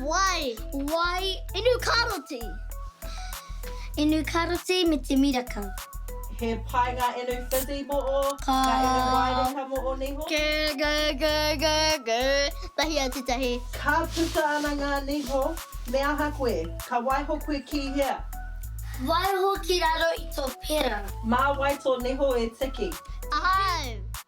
Wai. Wai. Inu karoti. Inu karoti me te miraka. He pai nga inu fizzy mo o, nga inu waireka mo o niho. Ge ge ge ge ge. Tahi a te tahi. Ka puta ana nga niho, me aha koe? Ka waiho koe ki hea? Waiho ki raro i to pera. Ma wai to niho e tiki? Ahau.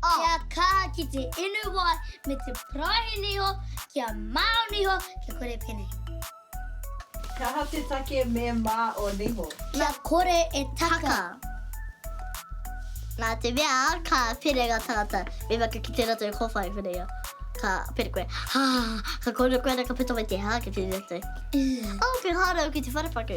Kia kaha ki te inu wai me te paraihe niho, kia mao niho, kia kore penei. Kaha te take me mao niho. Kia kore e taka. Na te mea ka pere nga tangata, me maka ki te ratou kowhai whareia. Ka pere koe, Haa! Ka kore koe ana ka puta mai te haa ki te ratou. Oh, ke hānau ki te wharepaku.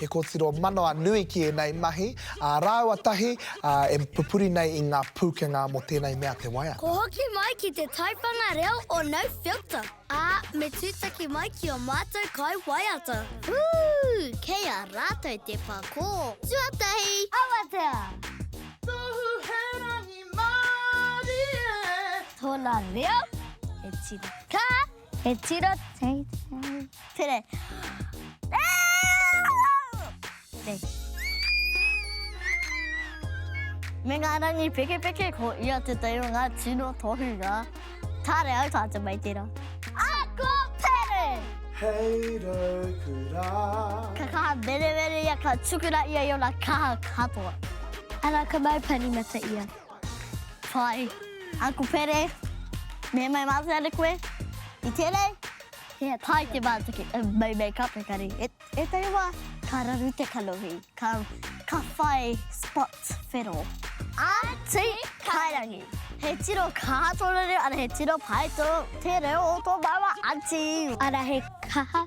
He kōtiro manawa nui ki ēnei mahi, ā, rāua tahi, ā, e pupuri nei i ngā pūkenga mō tēnei mea te waiata. Kua hoki mai ki te taiwhanga reo o No Filter, ā, me tūtaki mai ki ō mātou kai waiata. Hū! Kei a rātou te pakō. Tuatahi! Awatea! Tohu he rangi mārie. Tōna reo, he tira. Ka. He tira teitei. Tere. Me ngā rangi pekepeke, ko ia te tei o ngā tino tohunga. Kāre au tātou mai tērā. Ako Tere! Hei rōku rā. Ka kaha meremere ia, ka tukuna ia i ōna kaha katoa. Ana ka mau parimata ia. Hi, Uncle Pere. Me mai mātou ana koe. I tēnei, he pai te mātaki, mai make up engari, ētahi wā ka raru te kanohi, ka whai spots whero. Āti Kairangi, he tino kaha tōna reo, ara he tino pai te reo o tō māua Āti. Ara he kaha.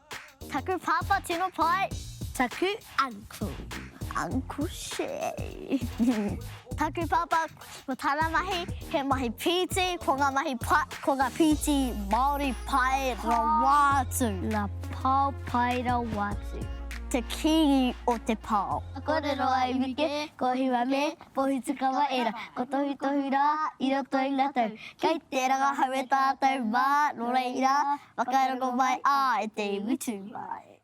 Taku pāpā tino pai. Taku uncle, Uncle Shay. Taku pāpā, ko tāna mahi, he mahi pīti, ko ngā mahi pa, ko ngā pīti Māori pai rawa atu. Ngā pao pai rawa atu. Te kīngi o te pao. Kōrero ai Mike, ko Hiwa me Pohutukawa ērā. Ko Tohutohu rā, i roto i ngā tau. Kei te rangahau e tātou mā, nō reira, Whakarongo mai a e te iwi tū mai.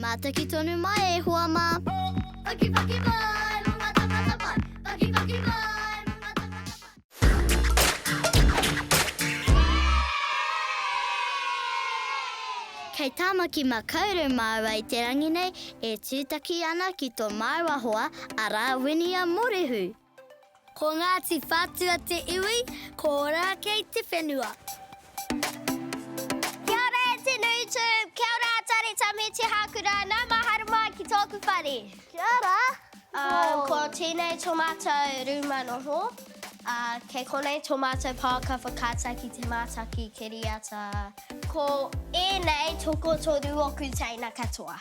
Mātaki tonu mai e hoa mā. Pakipaki mai mō ngā tāngata pai. Pakipaki mai mō ngā tāngata pai. Kei Tāmaki Makaurau māua i te rangi nei e tūtaki ana ki tō māua hoa, arā, Winia Morehu. Ko Ngāti Whātua te iwi, ko Ōrākei te whenua. Kia ora e te nui tū. Kia ora a Tari Tamithi Hākura, nau mā haere mai ki tōku whare. Kia ora. Ko tēnei tō mātou rūma noho. Kei konei tō mātou pāka whakaata ki te mātaki kiriata. Ko ēnei tokotoru oku teina katoa.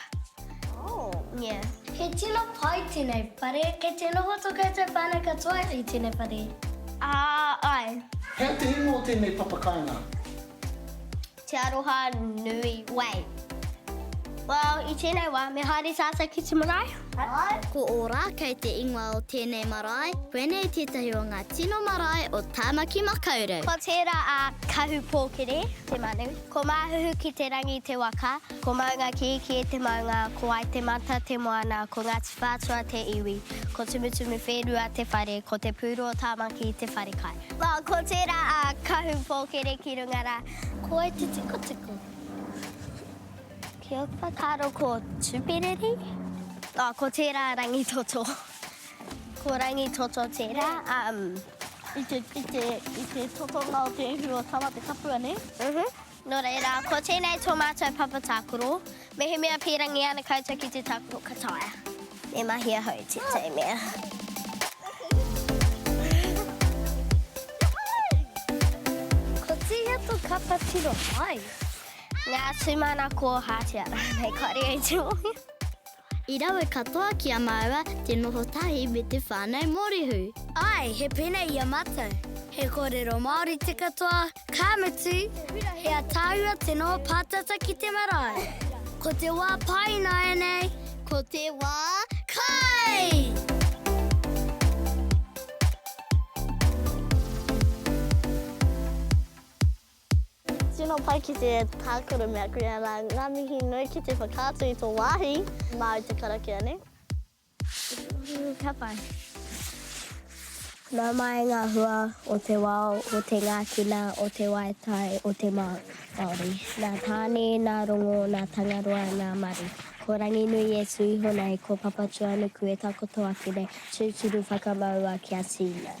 Oh. Yeah. He tino pai tēnei whare, kei te noho tō koutou whānau katoa i tēnei whare? Ah, ai. Hea te ingoa o tēnei papakāinga? Te Aroha Nui Wei. Well, i tēnei wā, me haere tātou ki te marae. Ko Ora kei te ingoa o tēnei marae. Koinei tētahi o ngā tino marae o Tāmaki Makaurau. Ko tērā a Kahupōkere te manu. Ko Māhuhu-ki-te-rangi te waka. Ko Maungakīkī te maunga. Ko Waitematā te moana. Ko Ngāti Whātua te iwi. Ko Tumutumu-whērua te whare. Ko Te Pūru o Tāmaki te wharekai. Ko tērā a Kahupōkere ki runga rā. Ko wai te tikotiko? Kia whakaaro ko Tuperiri. Oh, ko tērā Rangitoto. Ko Rangitoto tērā. Um, i, te, i, te, I te tokonga o te ihu o Tama te Kapua, ne? Uh mhm. -huh. Nō reira, ko tēnei tō mātou papa tākoro. Mehemea pērangi ana koutou ki te tākoro ka taea. Me mahi ahau te tei mea. Ko tēhea tō kapa tiro mai? Ngā tūmana kōhātia rānei kāore au te mōhio. I rawe katoa ki a māua te noho tahi me te whānau Mōrehu. Āe, he pēnei i a mātou. He kōrero Māori te katoa, ka mutu, he ataahua te noho pātata ki te marae. Ko te wā pai ināianei. Ko te wā kai! Tino pai ki te tākaro me aku ia rā. Ngā mihi nui ki te whakaatu i tō wāhi māu te karakia nei. Ka pai. Nā mai ngā hua o te wao, o te ngākina, o te waetai, o te Māori. Nā Tāne, nā Rongo, nā Tangaroa, nā Maru. Ko Ranginui e tū iho nei, ko Papatūānuku e takoto ake nei, tūturu whakamaua kia tīna.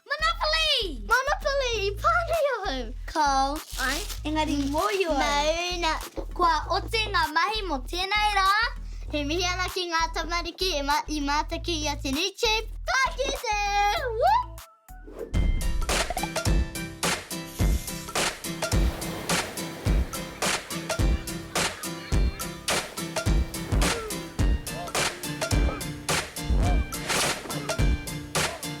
Monopoly! Monopoly! I pānui ahau! Call. Ai, engari i mōhio au. Mauna. Kua oti ngā mahi mō tēnei rā. He mihi ana ki ngā tamariki i mātaki i a Te Nui Chief. Ka kite! Woo!